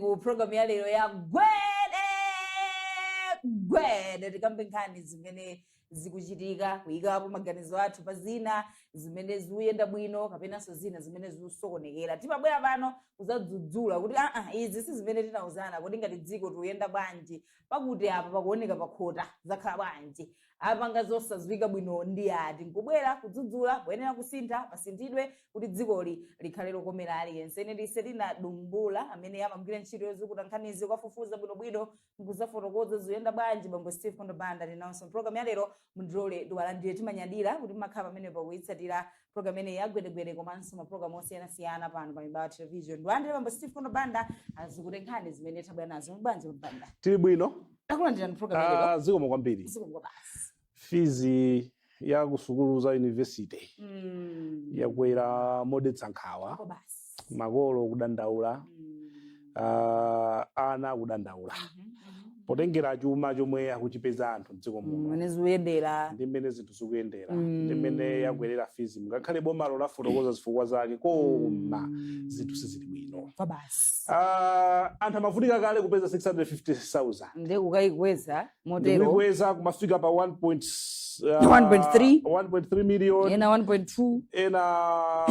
ku programu ya lero ya gwede gwede tikambe nkhani zimene zikuchitika kuyikapo maganizo athu pa zina zimene zikuyenda bwino kapenanso zina zimene zikusokonekera timabwera pano kuzadzudzula kuti aa izi si zimene tinauzana kodi ngati dziko tikuyenda bwanji pakuti apa pakuoneka pakhota zakhala bwanji apanga zosaziwika bwino ndi ati nkubwera kudzudzula poyenera kusintha pasinthidwe kuti dzikoli likhale lokomera aliyense ine ndine Tina Dumbula amene amagwira ntchito yozukuta nkhanizi kuwafufuza bwinobwino nkuzafotokoza ziyenda bwanji bambo Steve Kondo Banda ndinawonso mpulogalamu ya lero mundilole ndiwalandire timanyadira kuti mumakhala pamenepo kuyitsatira program imeneyi ya gwede gwede komanso mapulogalamu osiyanasiyana pano pa mibawa television ndiwalandire bambo Steve Kondo Banda azukute nkhani zimene tabwera nazo muli bwanji a banda tili bwino takulandirani program imeneyi Ah, zikomo kwambiri zikomo kwabasi fizi ya kusukulu za university Mm. yakwera modetsa nkhawa Kwabasi makolo kudandaula ah, ana kudandaula potengera chuma chomwe akuchipeza anthu mdziko muno mmene zikuyendera ndi mmene zinthu zikuyendera ndi mmene yakwerera fizimu ngakhale bomalo lafotokoza zifukwa zake koma zinthu sizili bwino kwa basi Ah, anthu amavutika kale kupeza 650,000 nde kukayikweza motero ndikuikweza kumafika pa 1 point, uh, 1.3. 1.3 million ena 1.2 ena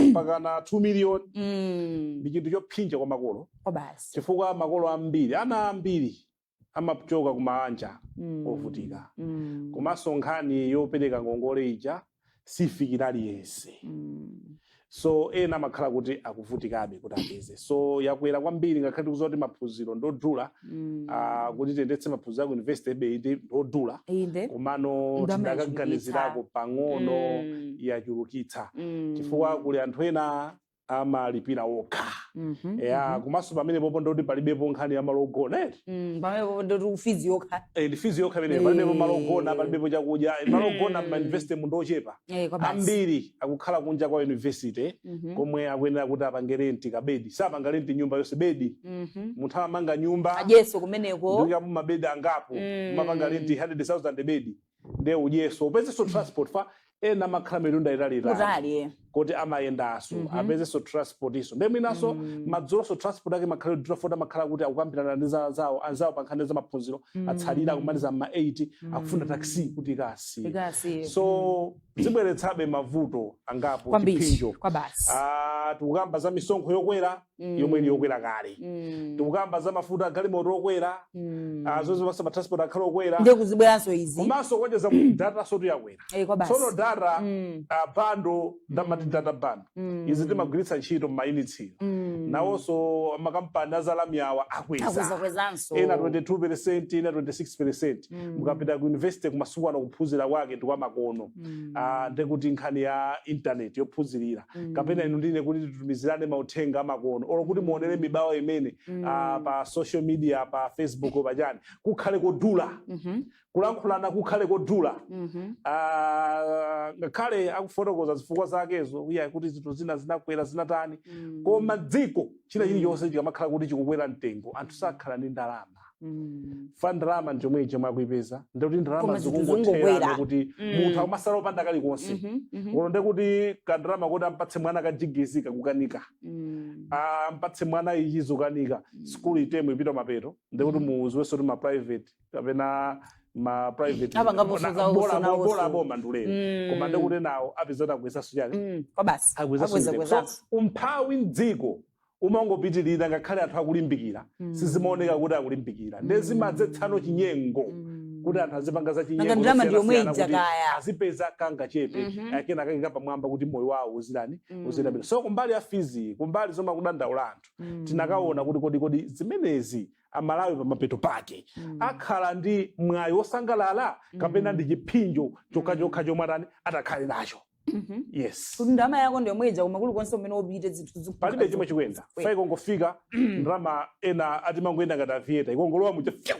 mpakana 2 million mm. ndi chinthu chopsinja kwa makolo kwa basi chifukwa makolo ambiri ana ambiri amachoka ku maanja mm. ovutika mm. komanso nkhani yopereka ngongole ija sifikira aliyense Mm. so ena amakhala kuti akuvutikabe kuti apeze so yakwera kwambiri ngakhale tikuziwa kuti maphunziro ndodula Mm. ah, kuti tiyendetse maphunziro aku university eee inde ndodula inde komano Ndalama tikadaganizirako pang'ono Mm. yachulukitsa Mm. chifukwa kuli anthu ena amalipira okha Mhm, ya mhm. komanso pamenepopo ndoti palibepo nkhani ya malo ogona eti Mm, pamenepopo ndoti ndi fizi yokha Eh, ndi fizi yokha imeneyo palibepo malo ogona Eh. palibepo chakudya Eh, malo ogona Mm. m'mayunivesitemu ndochepa Eh, kwa basi. ambiri akukhala kunja kwa yunivesite Mhm, komwe akuyenera kuti apange renti kabedi sapanga renti nyumba yonse bedi mhm. munthu amanga nyumba ajeso kumeneko ndikuika mabedi angapo Mm. mumapanga renti 100000 bedi nde udyeso upezeso transport chifukwa ena amakhala mitunda italiitali kutali eh. koti amayendaso Mhm. apezeso transport iso nde mwinaso Mm. madzulonso transport ake imakhala yodula poti amakhala kuti akukambirana ndi za- zawo anzawo pa nkhani za maphunziro Mm. atsalira akumaliza mma 8 Mm. akufuna taxi kuti ikasiye Ikasi, eh. so zibweretsabe mavuto angapo kwambiri chiphinjo kwa basi Ah, tikukamba za misonkho yokwera yomwe ili Mm. yokwera kale Mm. tikukamba za mafuta agalimoto okwera Mm. ah, zonse pasa ma transport akhale okwera ndiye kuzibweranso izi komanso kuonjeza kuti datansotu yakwera Eh, kwa basi tsono data Mm. ah, bando ndamati Mm. data bando Mm. izi timagwiritsa ntchito m'mayunitsi Mm. nawonso makampani azalamyawa akweza akwezakwezanso ena 22 percent ena 26 percent Mm. mukapita ku university kumasiku ano kuphunzira kwake ndi kwamakono Mm. Ah, ndekuti nkhani ya intaneti yophunzirira Mm. kapena inu ndi ine kuti titumizirane mauthenga amakono olo kuti muonere mibawa imene Mm. ah, pa social media pa facebook pachani kukhale kodula Mhm. kulankhulana kukhale kodula Mhm. Ah, ngakhale akufotokoza zifukwa zakezo iya kuti zinthu zina zinakwera zinatani Mm. koma dziko china chilichonse chikamakhala kuti chikukwera mtengo anthu sakhala ndi ndalama Mm. fa ndalama ndichomwechi chomwe akuipeza ndikuti ndalama Koma zinthu zikungothera zongobwera. ndikuti Mm. munthu akumatsala opanda kalikonse Mhm, mhm, olo ndekuti kandalama kuti ampatse mwana kajigizi kakukanika mm. ampatse mwana ichi zikukanika Mm. sukulu itemu ipita mapeto ndikuti Mm. mudziwenso kuti ma private kapena ma private Apangaponso bona- zawo bola- zonawo bola so. boma ndi ulere Mm. koma ndikuti nawo apeza kuti akwezanso chani Mm, kwa basi akwezanso Akweza- mtengo. So, akwezanso. umphawi mdziko umangopitirira ngakhale anthu akulimbikira Mm. sizimaoneka kuti akulimbikira nde Mm. zimadzetsanso chinyengo Mm. kuti anthu azipanga za Nanga ndalama ndi yomwe chinyengo ija kaya. azipeza kangachepe Mhm. a kenakake ka pamwamba kuti moyo wawo uzirani Mm. uzirabira so kumbali ya fizi kumbali zomwe akudandaula anthu Mm. tinakaona kuti kodi kodi zimenezi amalawi pamapeto pake Mm. akhala ndi mwayi wosangalala kapena Mm. ndi chiphinjo chokhachokha chomwe atani atakhale nacho Mhm. yes kuti ndalama yako ndi yomwe ija koma kulikonse kumene upite zinthu zikufunika palibe chomwe zikufunika. chikuyenda Eh. fa ikangofika ndalama ena ati imangoyenda ngati Aviator ikangolowa muja fyau,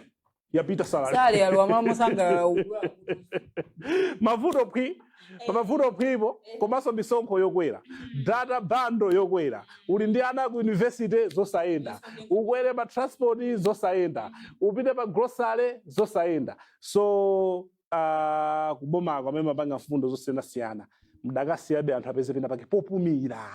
yapita salary sali alowa malo mosangalala uku. mavuto phwi pamavuto phwipo komanso misonkho yokwera data bando yokwera uli ndi ana ku yunivesite zosayenda ukwere pa transport zosayenda upite pa grocery zosayenda so kubomako amene mumapanga mfundo zosiyanasiyana mdakasiyabe anthu apeze pena pake popumira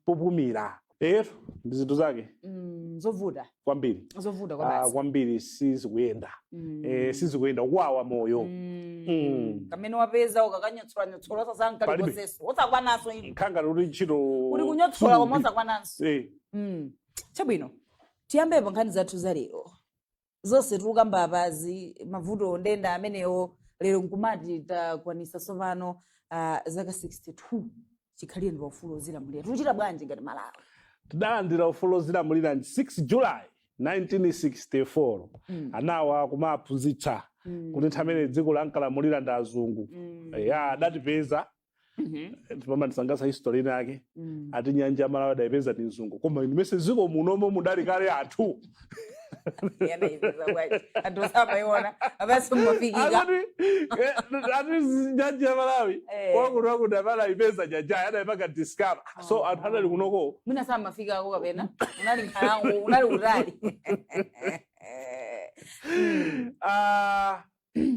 popumira etu ndi zinthu zake Mm, zovuta kwambiri zovuta kwa Ah, basi kwambiri sizikuyenda Mm. Eh, sizikuyenda ukuwawa moyo Mm. Mm. kamene wapeza ukakanyotsolanyotsora Palibe. osatsala kalikonsenso osakwananso ivi nkhanga loti ntchito uli kunyotsola koma Sukulu. osakwananso Eh, Mm. chabwino tiyambe pa nkhani zathu za lero zonse tikukamba apazi mavuto nde ndi amenewo lero nkumati takwanisa tsopano uh, zaka 62 chikhalireni paufulu ozilamulira tikuchita bwanji ngati malawi tidalandira ufulu ozilamulira ndi 6 july 1964 Mm. anawa kumaphunzitsa Mm. kuti nthawi imene dziko lankalamulira ndi azungu Mm. ya adatipeza Mhm. pamandisangasa history ina yake Mm. ati nyanja ya malawi adayipeza ndi mzungu koma inu ndimayesa dziko munomo mudali kale anthu Anaipeza bwanji. Anthu samaiona. Apanso mumafikira. akuti eh, ati zi- nyanja ya malawi Eh. kwakuti wakuti amene adayipeza nyanjayo adayipanga discover so Ah. anthu adali kunoko Mwina samafikako kapena. Kunali nkhalango, kunali kutali. ah,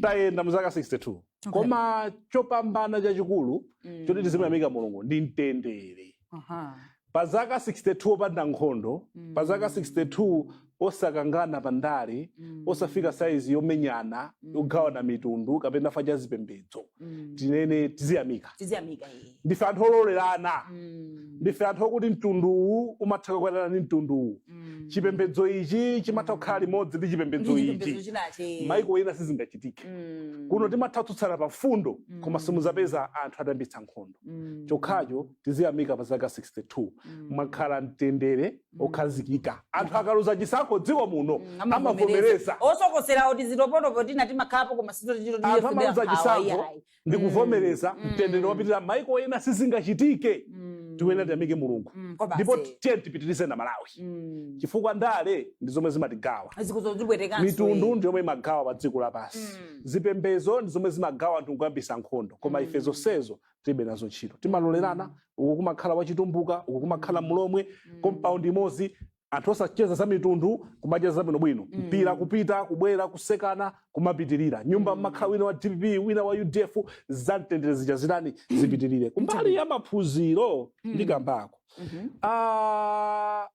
tayenda mu zaka 62 koma chopambana chachikulu Mm. choti tizimuyamika mulungu ndi mtendere Aha. pa zaka 62 opanda nkhondo Mm. pa zaka 62 osakangana pa ndale Mm. osafika saizi yomenyana Mm. yogawana mitundu kapena pa za zipembedzo Mm. tinene tiziyamika tiziyamika iye ndife anthu ololerana Mm. ndife anthu okuti mtundu uwu umatha kukwatirana ndi mtundu uwu Mm. chipembedzo ichi chimatha kukhala limodzi ndi chipembedzo Ndi chipembedzo ichi chinachi. maiko ena sizingachitike Mm. kuno timatha kutsutsana pa mfundo Mm. koma simuzapeza anthu atayambitsa nkhondo Mm. chokhacho tiziyamika pa zaka 62 Mm. mwakhala mtendere Mm. okhazikika anthu akaluza chisankho mdziko muno Mm, amavomereza osokoserawo tiziphokoso tina timakhalapo koma anthu amaluza chisankho ndi kuvomereza Mm. mtendere wapitirira maiko ena sizingachitike Mm. timunene tiyamike mulungu Mm, kwa bambo. ndipo tiyeni tipitirize amalawi Mm. chifukwa ndale ndi zomwe zimatigawa zikuzozibwetekanso mitundu ndi yomwe imagawa pa dziko lapansi Mm. zipembedzo ndi zomwe zimagawa anthu nkuyambisa nkhondo koma ife Mm. zonsezo tilibe nazo ntchito timalolerana uku kumakhala wachitumbuka uku kumakhala mulomwe compound imodzi anthu osacheza za mitundu kumacheza zabwino bwino mm. mpira kupita kubwera kusekana kumapitirira nyumba mm. mumakhala wina wa dpp wina wa udf za mtendere zija zitani mm. zipitirire kumbali ya maphunziro mm. ndikambeko mm -hmm. uh,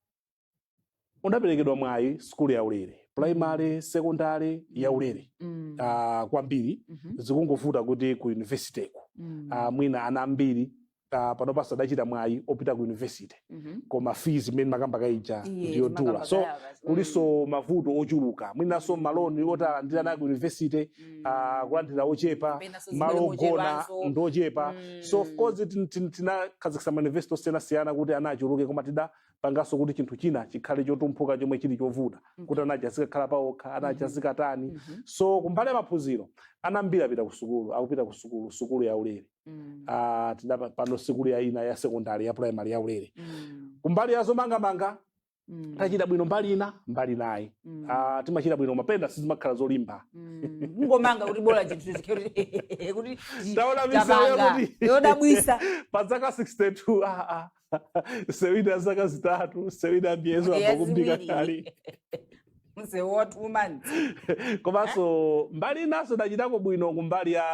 unaperekedwa mwayi skulu ya ulere primary mm. secondary ya mm. ulere mm. uh, kwambiri mm -hmm. zikungovuta kuti ku university ku mm. uh, mwina ana ambiri ah, panopa sakuchita mwayi opita ku university Mhm. koma fees imene makamba kaija Eee, ndiyodula makamba so kaya basi. kulinso mavuto ochuluka mwinanso maloni oti alandire aku university Mm. ah, kulandira ochepa Kapenanso malo amene ogona ndochepanso. ndochepa Mm. so of course tin- tin- tinakhazikitsa ma university osiyanasiyana kuti ana achuluke koma tikanapanganso kuti chinthu china chikhale chofewuka chomwe chili chovuta kuti ana aja azikakhala paokha ana aja azikatani Mhm. so kumbali ya maphunziro ana ambiri apita ku sukulu akupita ku sukulu sukulu ya ulere Mm. Ah, tidapanga pano sukulu ya ina ya secondary ya primary ya ulere Mm. kumbali ya zomangamanga Mm. tachita bwino mbali ina mbali inayi Mm. Ah, timachita bwino mwapena sizimakhala zolimba Mm. kungomanga kuti bola chinthu chithe kuti kuti Taona misewu tapanga. yakuti- yodabwisa pa zaka 62 ah, ah, sewina zaka zitatu sewina miyezi Miyezi akakumbika iwiri. kali mzee wa two months komanso mbali inanso tachitako bwino kumbali ya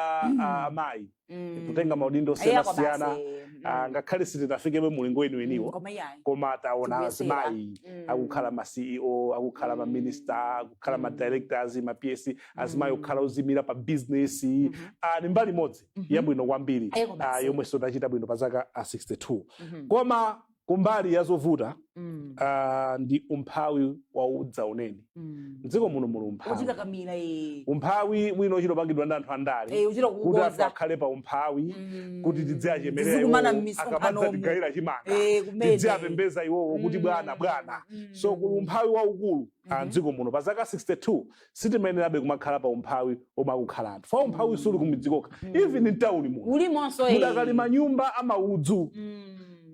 ah, amayi Mm. kutenga maudindo Iya, osiyanasiyana basi, mm. ah, ngakhale sitinafikebe mulingo Mm, weniweniwo koma iyayi. koma taona Tikuyesera. azimayi Mm. akukhala ma ceo akukhala ma Mm. minister akukhala ma Mm. directors ma ps azimayi Mm. kukhala oziimira pa business Mhm. ah, ndi mbali imodzi Mhm. yabwino kwambiri Eh, koma ah, si. yomwenso tachita bwino pa zaka ah, 62 Mhm. koma kumbali ya zovuta Mm. ah, ndi umphawi wa udzaoneni Mm. mdziko muno muli umphawi Uchita kamira eh. umphawi wina wochita kupangidwa ndi anthu andale Eh, uchita kuti anthu kukonza. akhale pa umphawi Mm. kuti tidziachemerera Tizikumana iwowo, m'misonkhano akamadza umu. tigayira chimanga Eh, kumene. tidziapembedza iwowo kuti Mm. bwana bwana Mm. so kuli umphawi waukulu ah, Mhm. mdziko muno pa zaka 62 sitimayenerabe kumakhala pa umphawi omwe akukhala anthu chifukwa umphawi suli kumidzi kokha Mm. even mtawuni muno ulimonso eh. mudakali manyumba amaudzu Mm.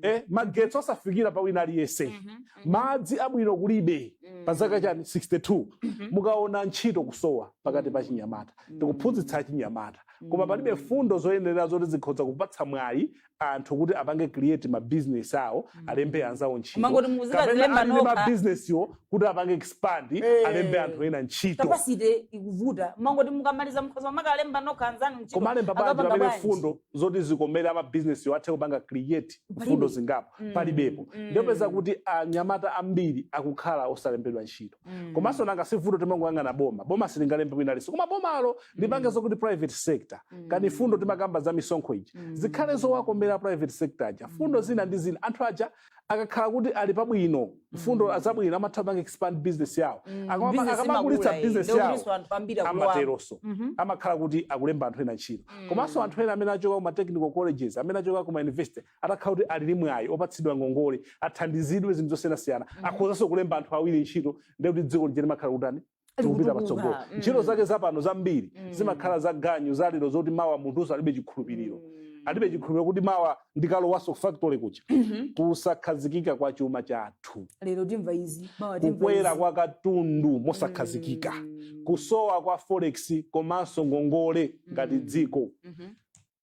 eh, magetsi osafikira pa wina aliyense Mhm, mhm, madzi abwino kulibe mhm. pa zaka chani 62 Mhm. mukaona ntchito kusowa pakati pa achinyamata Mm. tikuphunzitsa achinyamata koma palibe Mm. mfundo zoyenera zoti zikhoza kupatsa mwayi anthu kuti apange create ma business awo alembe mm. anzawo ntchito kumangoti muzikadzilemba nokha ma business yo kuti apange expand hey. Eh. alembe anthu ena ntchito capacity ikuvuta amangoti mukamaliza mkhoza kukalemba nokha anzanu ntchito koma alemba bwanji pamene mfundo zoti zikomere ama business yo athe kupanga create mfundo zingapo mm. palibepo mm. ndiye upeza kuti anyamata ambiri akukhala osalembedwa ntchito komanso nanga si vuto timangoyang'ana boma boma silingalembe wina aliyense koma bomalo lipange zokuti private sector kaya mfundo timakamba za misonkho ija zikhale zowakomera private sector aja mfundo zina ndi zina anthu aja akakhala kuti ali pabwino mfundo zabwino amatha kupanga expand business yawo Akama- Business akamakulitsa imakula, eh. business Ndiye yawo kulinso anthu ambiri akulowa. amateronso amakhala kuti akulemba anthu ena ntchito komanso anthu ena amene achoka ku ma technical colleges amene achoka ku ma university atakhala kuti ali ndi mwayi opatsidwa ngongole athandizidwe zinthu zosiyanasiyana mm -hmm. akhozanso kulemba anthu awiri ntchito ndiye kuti dziko lije limakhala likutani likupita patsogolo mm. ntchito mm. zake zapano zambiri mm. zimakhala za ganyu za lero zoti mawa munthunso alibe chikhulupiriro mm. alibe chikhulupiriro kuti mawa ndikalowanso factory kuja mm -hmm. kusakhazikika kwa chuma chathu lero timva izi mawa timva kukwera kwa katundu mosakhazikika mm. kusowa kwa forex komanso ngongole ngati mm. dziko mm -hmm.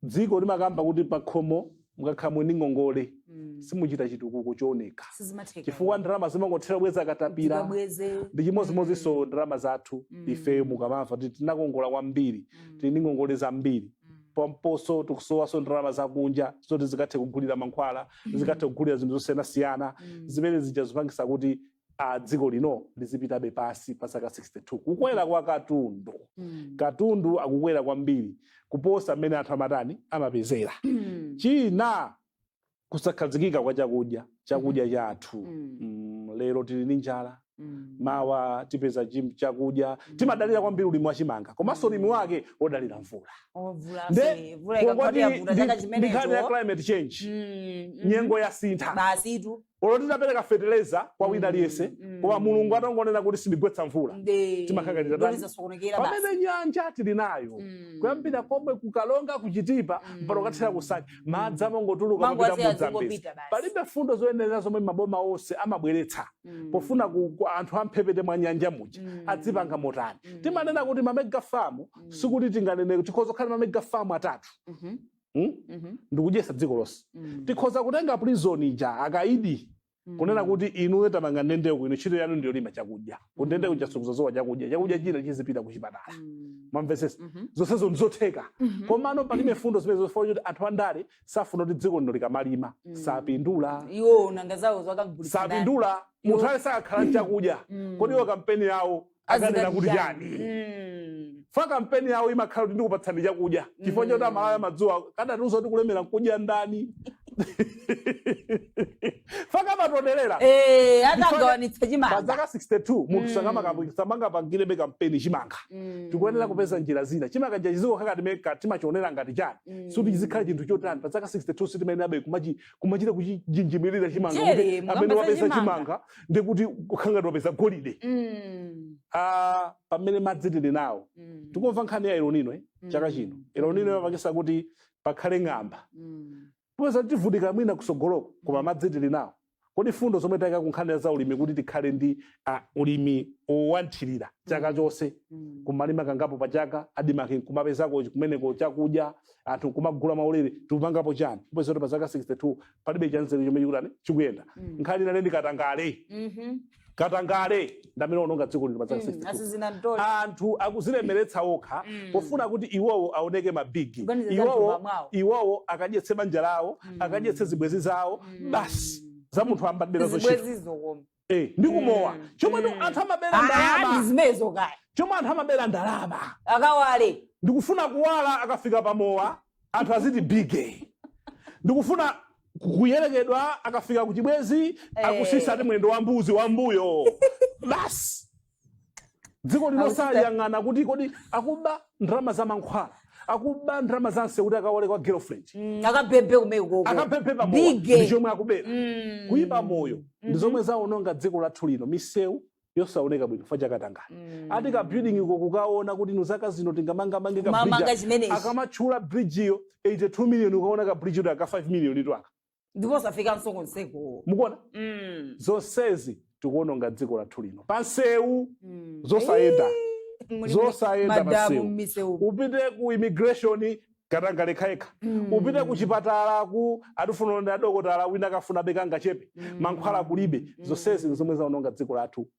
dziko timakamba kuti pakhomo mukakhala muli ndi ngongole Mm. simuchita chitukuko chooneka Sizimatheka. chifukwa ndalama zimangothera kubweza katapira Tikabweze. ndi chimodzimodzinso ndalama zathu Mm. ifeyo mukamamva kuti tinakongola kwambiri Mm. tili ndi ngongole zambiri Mm. pomponso tikusowanso ndalama zakunja zoti zikathe kugulira mankhwala zikathe kugulira zinthu zosiyanasiyana Mm. zimene zija zopangitsa kuti a dziko lino lizipitabe pansi pa zaka 62 kukwera kwa katundu Mm. katundu akukwera kwambiri kuposa mmene anthu amatani amapezera Mm. china kusakhazikika kwa chakudya chakudya chathu Mm. mm, lero tili ndi njala Mm. mawa tipeza chim- chakudya timadalira kwambiri ulimi wa chimanga komanso ulimi wake wodalira mvula Mvula Nde, fa, mvula ikagwa Kungoti yavuta ndi- chaka chimenecho. ndi nkhani ya climate change Mm, mhm. nyengo yasintha Basitu. olo titapereka fetereza kwa wina aliyense Mm, koma mm. mulungu atangonena kuti sindigwetsa mvula Nde- Timakhala ngati kuti tatani? zasokonekera basi. pamene nyanja tili nayo Mm. kuyambira komwe kuKaronga kuChitipa Mm. mpaka kukathera kuNsanje madzi amangotuluka Amango kupita ku Mozambique azingopita basi. palibe fundo zoyenera zomwe maboma onse amabweretsa Mm. pofuna ku, kuti anthu amphepete mwa nyanja muja Mm. adzipanga motani Mm. timanena kuti mamegafamu Mm. sikuti tinganene tikhoza kukhala mamegafamu atatu Mhm. mm? Mhm. ndikudyesa dziko lonse Mm. tikhoza kutenga prison ija akaidi Mm. kunena kuti inuyo takumangani ndendeko ino ntchito yanu ndi yolima chakudya kundende kuja sikuzasowa chakudya chakudya china chizipita kuchipatala Mm. mwamvesesa Mhm. zonsezo ndizotheka Mhm. komano palibe fundo zimene zofuna kuti anthu andale safuna kuti dziko lino likamalima Mm. sapindula iwo nanga zawo akagulitsa ndani? sapindula munthu ali sakakhala chakudya Mm. kodi iwo kampeni yawo akanena kuti chani Mm. fa kampeni yawo imakhala kuti ndikupatsani chakudya chifukwa choti amalawi amadziwa kadatiuza kuti kulemera nkudya ndani fa kamatonerera Eh, Chifukwa- atagawanitsa pa chimanga zaka 62 munthu Mm. sakamakapu- samangapangirebe kampeni chimanga Mm. tikuyenera kupeza njira zina chimanga chizikhala ngati mmene timachionera ngati chani Mm. sikuti chizikhala chinthu chotani pa zaka 62 sitimayenerabe kumachi- kumachita kuchinjimirira chimanga kuti Jere, amene mukamba za wapeza chimanga. chimanga ndikuti kukhala ngati wapeza golide Mm, Ah, pamene madzi tili nawo mm, tikumva nkhani ya El Nino eh, mm, chaka chino El Nino mm, yapangisa kuti pakhale ng'amba mm. popeza tivutika mwina kusogoloko koma madzi tili nawo kodi fundo zomwe tayika kunkhani za ulimi kuti tikhale ndi ah, ulimi wa mthirira chaka chonse Mm. kumalima kangapo pa chaka ADMARC kumapezeka kumeneko chakudya anthu nkumagula maulere tikupangapo chani kupeza kuti pa zaka 62 palibe chanzeru chomwe chikutani chikuyenda Mm. nkhani inanso ndi katangale Mhm. katangale ndi amene waononga dziko lino pa zaka Mm. 62 Asizina mtoli. anthu akuzilemeretsa okha Mm. pofuna kuti iwowo aoneke mabigi Kuganiza za iwowo mthumba mwawo. iwowo akadyetse banja lawo Mm. akadyetse zibwenzi zawo Mm. basi za munthu amabera zochita Zibwenzi zokoma. Eh, ndi kumowa Mm, chomwe mm. anthu amabera Ah, ndi ndalama zimenezo kaya chomwe anthu amabera ndalama akawale ndikufuna kuwala akafika pamowa anthu aziti bige ndikufuna kuyerekedwa akafika kuchibwenzi Eh. akusisa ati mwendo wa mbuzi wambuyo basi dziko lino Akuchita- sayang'ana kuti kodi akuba ndalama za mankhwala akuba ndalama za msewu kuti akawale kwa girlfriend Mm, akabhebhe kumeko akapemphe pamowa ndi bige chomwe akubera Mm. kuyipa moyo ndi Mhm. zomwe zaononga dziko lathu lino misewu yosaoneka bwino fa cha katangale Mm. ati ka building iko kukaona kuti inu zaka zino tingamangamange ka bridge mamanga chimenechi akamatchula bridge iyo 82 million ukaona ka bridge ito aka 5 million ito aka ndipo osafikanso konseko mukuona Mm. zonsezi tikuononga dziko lathu lino pansewu Mm. zosayenda Muli zosayenda madamu pansewu m'misewu. upite ku immigration katangale yekhayekha Mm. upite ku chipatala ku ukufuna uonane ndi adokotala wina akafuna be kangachepe Mm. mankhwala kulibe Mm. zonsezi nzomwe zaononga dziko lathu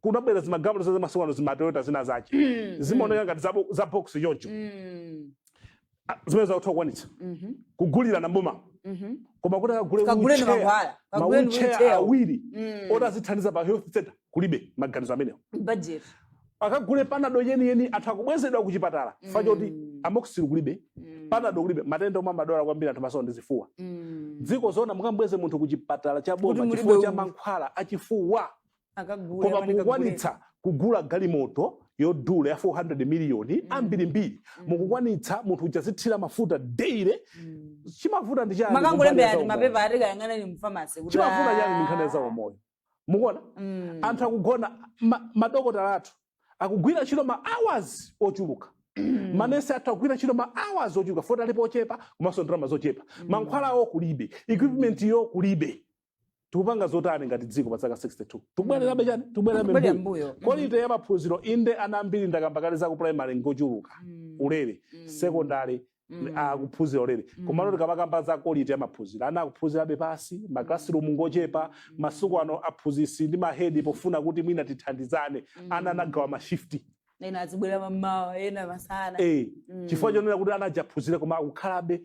kunabwera zimagalimoto za masiku ano zimatoyota zina zace Mm, zimaoneka ngati zabo- za box choncho Mm. Ah, zimene zakuti akukwanitsa Mhm. kugulira nawo m'boma Mhm. koma kuti akagule Kaguleni wheelchair, mankhwala, ma kaguleni wheelchair wheelchair. awiri Mm. oti azithandiza pa health center kulibe maganizo amenewo Budget. akagule panado yeniyeni anthu akubwezedwa ku chipatala fa choti Mm. amoxicillin kulibe Mm. panado kulibe matenda omwe amadwala kwambiri anthu masiku ano ndi zifuwa Mm. dziko zona mukambweze munthu ku chipatala cha Kuti boma mulibe chifukwa cha u- mankhwala achifuwa akagule koma amene mukukwanitsa kugula galimoto yodula ya 400 miliyoni Mm. ambirimbiri Mm. mukukwanitsa munthu uja azithira mafuta daily Mm. chimavuta ndi chani kumbali makangolembera ya ati zaumoyo? mapepa ati kayang'aneni mfamasi kuti chimavuta ah. chani ndi nkhani ya zaumoyo mukuona Mm. anthu akugona ma- madokotala athu akugwira ntchito ma hours ochuluka manesi athu akugwira ntchito ma hours ochuluka fa choti alipo ochepa komanso ndalama zochepa mankhwala awo kulibe equipment yo kulibe tikupanga zotani ngati dziko pa zaka 62 tikubwererabe chani tikubwererabe Kubwerera mbuyo mbuyo. kolite ya maphunziro inde ana ambiri ndakamba kale za ku primary ngochuluka Mm. ulere Mm. secondary Mm. akuphunzira ulere Mm. komano tikamakamba za kolite ya maphunziro ana akuphunzirabe pansi maklasirumu ngochepa masiku ano aphunzitsi ndi mahedi pofuna kuti mwina tithandizane ana anagawa mashifti ena azibwera mammawa ena masana eh, mm. chifukwa chonena kuti ana aja aphunzire koma akukhalabe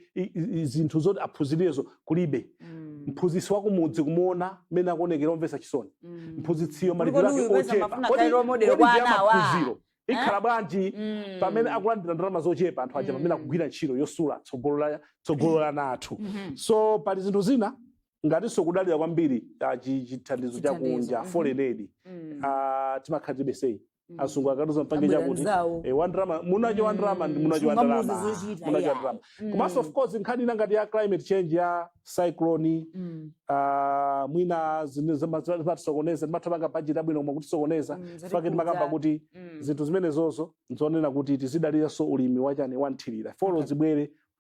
zinthu zoti aphunzirezo kulibe mm. mphunzitsi wa kumudzi kumuona mmene akuonekera omvesa chisoni mm. mphunzitsiyo malipiro ake ochepa maphunziro eh? ikhala bwanji mm. pamene akulandira ndalama zochepa anthu aja mm. pamene akugwira ntchito yosula tsogolo la tsogolo la ana athu mm -hmm. so pali zinthu zina ngatinso kudalira kwambiri ah, chithandizo chakunja mm-hmm. foreign aid mm. ah, timakhala tibesei Mm. azungu akatiuza mpange Abwera chakuti nzawo. eh, wandrama mmene wandrama ndi mmene Sunga muzi wandrama zochita, munacho yeah. wandrama Mm. komanso of course nkhani ina ngati ya climate change ya cyclone Mm. ah, mwina zimene zima- zima- zimatisokoneza timatha panga budget yabwino koma kutisokoneza Mm, zoti nchifukwa chake timakamba kudza. kuti Mm. zinthu zimenezo nzonena kuti tizidaliranso ulimi wachani wamthirira folo zibwere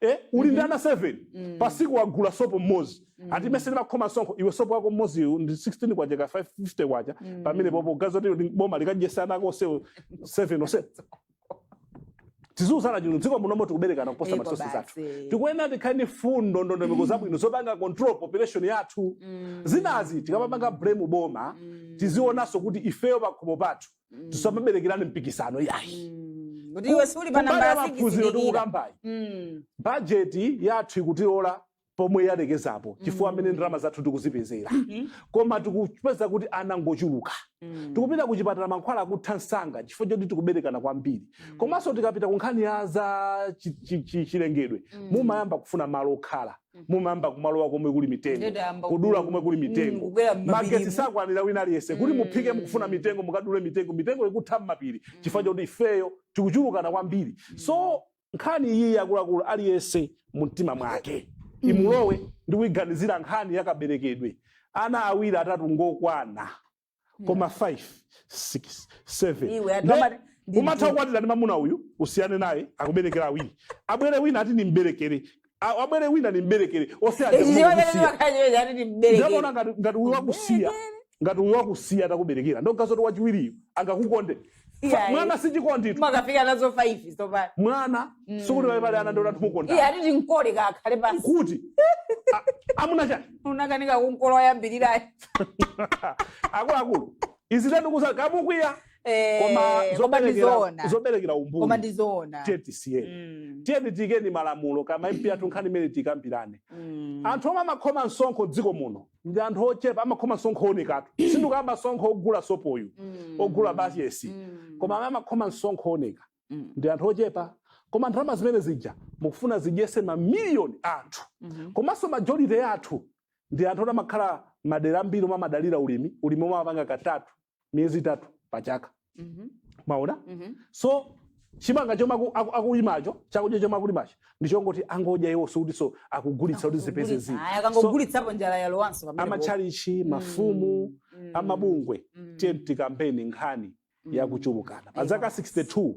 eh, uli ndi ana 7 Mm. pa siku wagula sopo mmodzi Mm. ati inenso ndimakhoma msonkho iwe sopo wako mmodzi uyu ndi 600 kwacha ka 550 kwacha Mm. pamene popo nde kuti ndi boma likadyesa ana ako onsewo 7 onse tiziuzana chino m'dziko munomo tikuberekana kuposa ma resources zathu basi. tikuyenera tikhale ndi mfundo ndondomeko zabwino zopanga control population yathu Mm. zinazi tikamapanga blame boma Mm. tizionanso kuti ifeyo pakhomo pathu Mm. tisamaberekerane mpikisano yayi Mm. kuti iwe uli pa kumbali namba ya ya maphunziro sikisi tikukambayi Mm. bajeti yathu ikutilola pomwe yalekezapo chifukwa amene Mm. ndalama zathu tikuzipezera Mhm. koma tikupeza kuti ana ngochuluka Mm. tikupita kuchipatala mankhwala akutha msanga chifukwa choti tikuberekana kwambiri Mm. komanso tikapita ku nkhani ya za chi- chi- chi- chilengedwe Mm. mumayamba kufuna malo okhala mumayamba kumalowa komwe kuli mitengo kudula komwe kuli mitengo mm, magetsi sakwanira wina aliyense kuti mm. muphike mukufuna mitengo mukadule mitengo mitengo ikutha mmapiri mm. chifukwa choti ifeyo tikuchulukana kwambiri so nkhani iyi akuluakulu aliyense mumtima mwake imulowe ndi kuiganizira nkhani yakaberekedwe ana awiri atatu ngokwana koma 5 6 7 Iwe, anthu amati- ndi umatha mtundu. kukwatira ndi mamuna uyu usiyane naye akuberekera awiri abwere wina ati nimberekere A- abwere wina nimberekere ose aja ichi chimene kukusiya. ndimakhachiwe chati ndi ndakona mberekere ngati ngati uyu wakusiya ngati uyu wakusiya atakuberekera ndogazoti wachiwiriyu angakukonde Iyayi. mwana si chikonditu mukafika nazo 5 tsopano mwana Mm. sikuti pali pali ana ndona iye tumukonda ati timkole kakhale basi kuti a- amuna chani unakanika kumkola woyambirirayo akuluakulu izi tatikuuza kaya mukwiya koma koma zoberekera ndizoona zoberekera koma umbuli ndizoona tiyeni tisiyeni Mm, tiyeni tiikeni malamulo kwa ma mp athu nkhani imene tikambirane mm. anthu omwe amakhoma msonkho m'dziko muno ndi anthu ochepa amakhoma msonkho woonekatu sindikukamba msonkho ogula sopoyu Mm. ogula basi yes Mm. koma amene amakhoma msonkho wooneka Mm. ndi anthu ochepa koma ndalama zimene zija mukufuna zidyese mamiliyoni a anthu Mhm. komanso majority ya anthu ndi anthu oti amakhala madera ambiri omwe amadalira ulimi ulimi omwe amapanga ka thatu miyezi itatu pa chaka Mhm. mwaona Mhm. so chimanga chomwe aku- aku- akulimacho chakudya chomwe akulimacho ndichongoti angodya iwo sikutinso akugulitsa kuti zipeze zina Aya, akangogulitsapo njala yalowanso pamene popo. amachalichi mafumu Mm. a mabungwe Mm. tiyeni tikambeni nkhani Mm. yakuchulukana pa zaka 62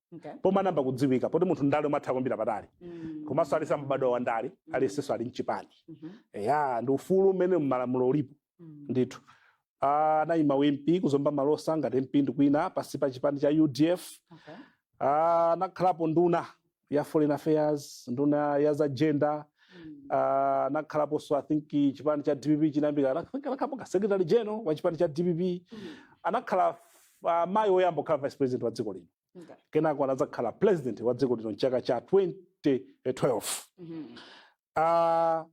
Okay. pomwe anayamba kudziwika poti munthu wandale umatha kuyambira patali Mm. komanso aliyense amabadwa wa ndale aliyensenso ali mchipani Mhm. eya ndi ufulu umene mmalamulo ulipo Mm. ndithu Ah, anayima u mp ku Zomba Malosa ngati mp ndi kuwina pansi pa chipani cha udf Okay. Ah, anakhalapo nduna ya foreign affairs nduna ya za gender Mm. Ah, anakhalaponso i think chipani cha dpp chitayambika I think anakhalapo secretary general wa chipani cha dpp Mm. anakhala uh, mayi woyamba kukhala vice president wa dziko lino Okay. kenako anadzakhala president wa dziko lino mchaka cha 2012 Mhm. Ah,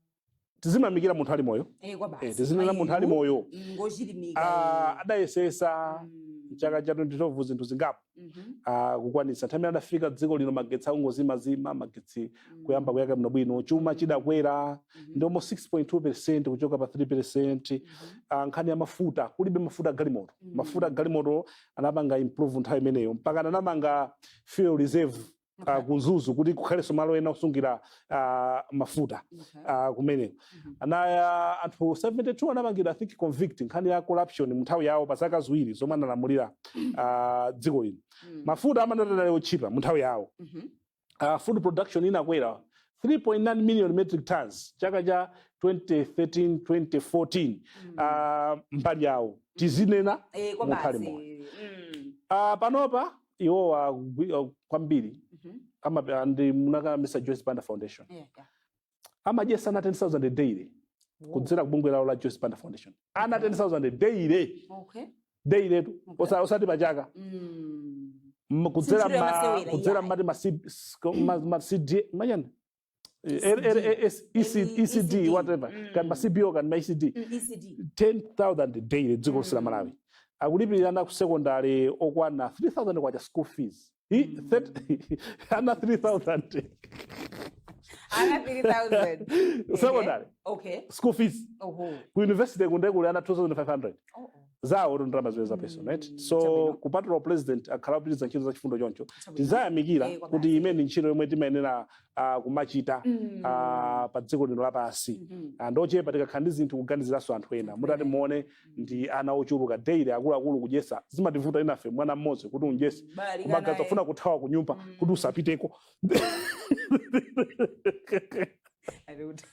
tiziyamikira munthu ali moyo Eh, kwa basi. eh, tiziyamikira munthu ali Mayiyu, moyo mm, ngochilimika Ah, iye. adayesesa Mm. mchaka cha 2012 zinthu zingapo Mhm. ah, kukwanitsa nthawi imene adapita dziko lino magetsi akungozimazima magetsi kuyamba kuyaka bwinobwino chuma chidakwera ndi almost 6.2 percent kuchoka pa 3 percent Ah, nkhani ya mafuta kulibe mafuta agalimoto mafuta agalimoto anapanga improve nthawi imeneyo mpaka anamanga fuel reserve ah, ku Mzuzu kuti kukhalenso malo ena osungira ah, mafuta ah, kumeneko anaya anthu 72 anamangidwa i think convict nkhani ya corruption munthawi yawo pa zaka ziwiri zomwe analamulira ah, dziko lino mafuta analitu otchipa munthawi yawo uh, food production inakwera 3.9 million metric tons chaka cha 2013 2014 uh, mbali yawo tizinena Eh, kwa munthu ali basi. moyo Mm. uh, panopa iwo a uh, kwambiri Mhm. ama- ndi munaka amayi joyce banda foundation Yeah, yeah. amadyesa ana 10000 daily kudzera kubungwe lawo la Joyce Banda Foundation ana 10000 daily okay daily tu Okay. Osa- osati pachaka mm. M- kudzera Sinchiro ma yamasewera, kudzera yeah. mati ma C- s- ko- ma ma CD ma chani ECD. LLAS ECD ECD. whatever Mm. kaya ma CBO kaya ma ECD Mm, ECD 10000 daily dziko lonse la Mm. Malawi akulipirira ana ku secondary okwana 3000 kwacha school fees Hi, set- ana 3000 ana 3000 secondary okay school fees oho ku university kunoku kuli ana 2500 Oh, oh. zawo to ndalama zimenezo Mm, peso right so chabwino. kupatula upresident akhala akupitiriza ntchito za chifundo choncho Chabwino. tiziyamikira Eh, kwabasi. kuti imeneyi ndi ntchito yomwe timayenera ah, kumachita Mm. ah, pa dziko lino lapansi Mhm. anthu ochepa tikakhala ndi zinthu kuganiziranso anthu ena Anthu mutati ena. muone ndi ana ochuluka daily akuluakulu kudyesa zimativuta enafe mwana mmodzi kuti umudyese Bali kumagaza kana kufuna kuthawa kunyumba Mm. kuti usapiteko ali kuti.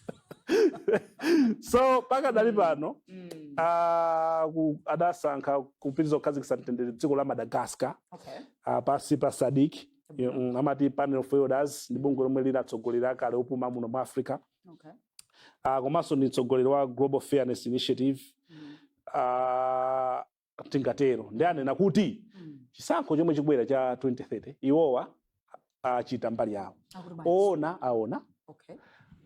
so pakadali Mm. pano Mm. ah, ku- adasankhidwa kupitiriza kukhazikitsa mtendere dziko la madagascar Okay. ah, pansi pa SADC Chabwino. amati panel of elders ndi bungwe lomwe la atsogoleri akale opuma muno mu africa okay. uh, komanso ndi mtsogoleri wa global fairness initiative mm. uh, titatero ndiye anena kuti mm. chisankho chomwe chikubwera cha 2030 iwowa achita mbali yawo owona aona okay.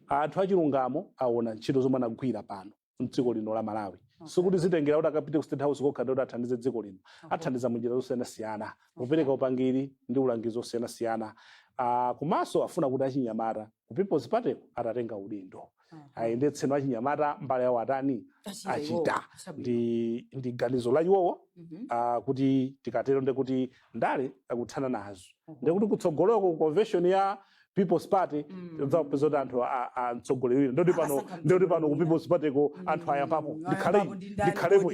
anthu achilungamo aona ntchito zomwe anagwira pano mdziko lino la malawi Okay. sikuti zitengera kuti akapite ku state house kokha ndikuti athandize dziko lino Okay. athandiza munjira zosiyanasiyana kupereka upangiri ndi ulangizi wosiyanasiyana Ah, komanso afuna kuti achinyamata ku people's party atatenga udindo Mhm. ayendetseno achinyamata mbali yawo atani Achita achita. iwowo. Chabwino. ndi ndi ganizo la iwowo Mhm. ah, kuti tikatero ndekuti ndale akutha nazo Mhm. ndekuti kutsogoloko ku convention ya People's Party mm. udzapeza kuti anthu amtsogoleri wina ndoti pano ndoti pano ku People's Party ko mm. anthu ayambapo ndikhale ndikhalepo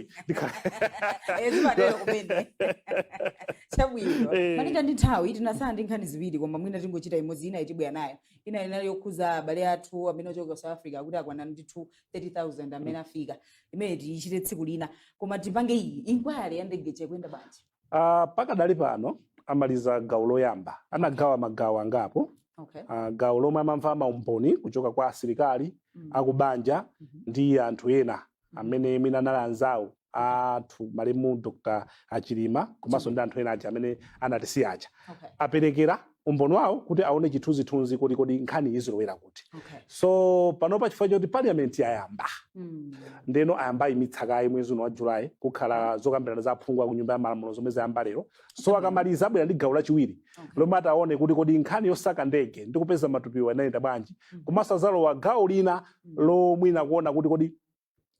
chabwino malinga ndi nthawi tinasala ndi nkhani ziwiri koma mwina tingochita imodzi ina itibwera nayo ina inali yokhuza abale athu amene ochoka ku South Africa kuti akwana ndi 30000 amene mm. afika imene tichite tsiku lina koma tipange iyi inquiry ya ndege ikuyenda bwanji Uh, pakadali pano amaliza gawo loyamba anagawa magawo angapo Okay. uh, gawo lomwe amamva maumboni kuchoka kwa asilikali Mm. akubanja Mhm. ndi anthu ena amene mwina anali anzawo athu malemu dr achilima komanso ndi anthu ena aja amene anatisiya aja Okay. aperekera umboni wawo kuti aone chithunzithunzi kuti kodi nkhani izilowera kuti okay. so panopa chifukwa choti parliament yayamba mm. ndeno ayamba aimitsa kaye mwezi uno wa julayi kukhala zokambirana za aphungu aku nyumba ya malamulo zomwe zayamba lero so mm. akamaliza abwera ndi gawo lachiwiri okay. lomwe ataone kuti kodi nkhani yosaka ndege ndi kupeza matupiwa inayenda bwanji mm. komanso azalowa gawo lina mm. lomwe ndi kuona kuti kodi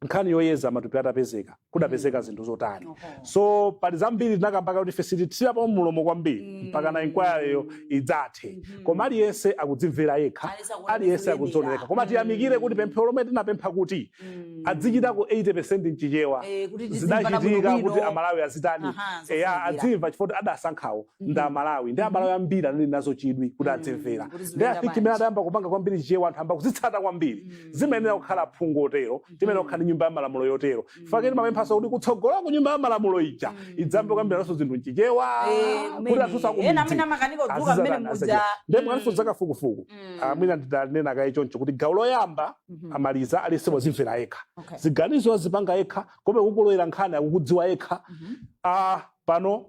nkhani yoyeza matupi atapezeka kudapezeka zinthu zotani so pali zambiri tinakamba kuti ife sitithirapo mlomo kwambiri Mm. mpaka na inquiryyo idzathe Mhm. koma aliyense akudzimvera yekha Aliyense akuona aliyense kulemera. akudzionera koma tiyamikire kuti Mm. pemphero lomwe tinapempha kuti Mm. adzichitako 80 mchichewa Eh, kuti tizimvana zidachitika bwinobwino. kuti amalawi azitani Aha, eya zofunikira. adzimva chifukwa kuti adasankhawo ndi amalawi ndi amalawi ambiri anali nazo chidwi kuti Mm, adzimvera kuti ndi zimvera I think mmene bwanji. adayamba kupanga kwambiri chichewa anthu ayamba kuzitsata kwambiri zimayenera kukhala aphungu otero timayenera kukhala ndi nyumba ya malamulo yotero chifukwa chake timapemphanso kuti kutsogolo ku nyumba ya malamulo ija idzayambe kukambirananso zinthu mchichewa Eh, kuti kumene. anthunso Ena amene akumidzi amakanika kudzuka azizana- mmene muja. azizana. Ndiye mwanso Mm. zakafukufuku Mm. Ah, mwina nditanena kaye choncho kuti gawo loyamba Mhm. amaliza aliyense wazimvera yekha Okay. ziganizo azipanga yekha komwe ikulowera nkhani akukudziwa yekha Mhm. ah, pano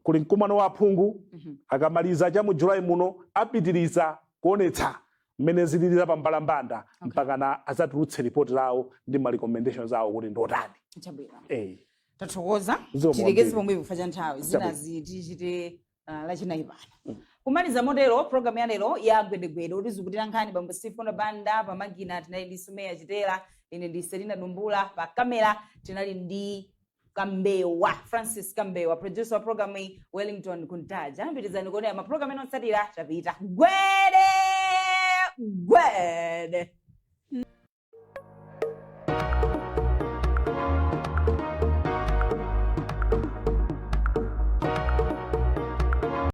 kuli mkumano wa aphungu Mhm. akamaliza cha mu julayi muno apitiriza kuonetsa mmene zilili pambalambanda okay. mpakana azatulutse report lawo ndi ma recommendations awo kuti ndotani chabwino eh tathokoza tilekeze pomwepa chifukwa cha nthawi zinazi tichite uh, ah, lachinayi pano mm. kumaliza motero programu ya lero ya gwedegwede kutizukutira nkhani bambo stephen banda pamakina tinali ndi sumeya chitera ine ndi selina dumbula pa kamera tinali ndi kambewa francis kambewa producer wa programu iyi wellington kuntaja pitirizani kuonera maprogramu ena otsatira tapita gwede gwede